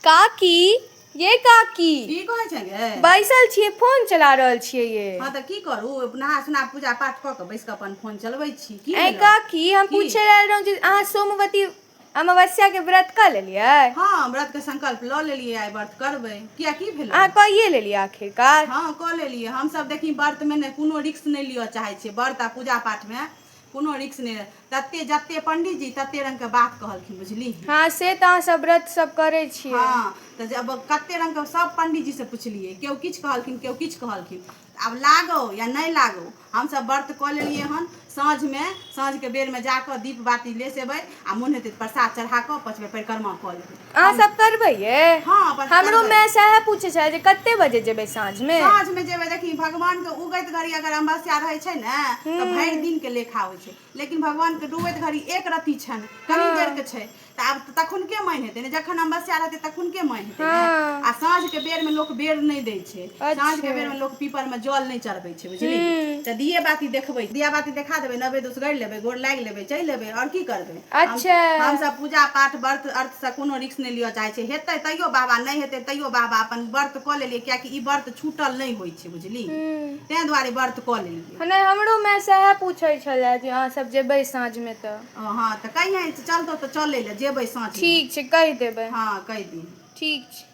काकी ये काकी की कहै छै गे बैसल छियै फोन चला रहल छियै ये हँ तऽ की करू नहा सुना पूजा पाठ कऽ कऽ बैस कऽ अपन फोन चलबै छी की ऐ भेलौ? काकी हम की? पूछे आयल रहौं जे अहाँ सोमवती अमावस्या के व्रत कऽ लेलियै हँ व्रत के संकल्प लऽ लेलियै आइ व्रत करबै किया की भेलै अहाँ कहिए लेलियै आखिरकार हँ कऽ लेलियै हमसभ देखी व्रतमे ने कोनो रिक्स नहि लिअ चाहै छियै व्रत आ पूजा पाठमे कोनो रिक्स नहि रहै तते जते पंडीजी तते रंग के बात कहलखिन बुझली हाँ से तऽ अहाँ सब व्रत सब करै छियै हाँ तऽ जब कते रंग के सब पंडीजी से पुछलियै केओ किछु कहलखिन केओ किछु कहलखिन आब लागो या नहि लागो हमसब व्रत कऽ लेलियै हन साँझ मे साँझ के बेर मे जाकऽ दीप बाती लेस एबै आ मोन हेतै तऽ प्रसाद चढ़ा कऽ पाँच बेर परिक्रमा कऽ लेबै अहाँ सब करबै ये हँ, अपन हमरो करबै। माय सएह पूछे छले जे कते बजे जेबै साँझ में साँझ में जेबै देखी भगवान के उगैत घड़ी अगर अमावस्या रहै छै ने तऽ भरि दिन के लेखा होइ छै लेकिन भगवान के डूबैत घड़ी एक रत्ती छनि कनी देर के छै तऽ आब तऽ तखुनके मानि हेतै ने जखन अमावस्या रहतै तखुनके मानि हेतै ने हँ। आ साँझ के बेर में लोक बेर नहि दै छै छै साँझ के बेर में लोग पीपर में जल नहीं चढ़बे छै बुझली तऽ दिये बाती देखबे दिया बाती देखा देबे नबे दोस गड़ लेबे गोर लाग लेबे चल लेबे और की करबे अच्छा हम सब पूजा पाठ व्रत अर्थ से कोनो रिक्स नहीं लियो चाहे छै हेतै तैयो बाबा नहीं हेतै तैयो बाबा अपन व्रत कऽ लेलियै कियाकि ई व्रत छूटल नहीं होइ छै बुझली तें दुआरे व्रत कऽ लेलियै नहि हमरो माय सएह पूछै छलए जे अहाँ सब जेबै साँझ में तऽ हाँ तऽ कहियै चलतो तऽ चलै ले जेबै साँझ ठीक छै कहि देबै हाँ कहि दी ठीक छै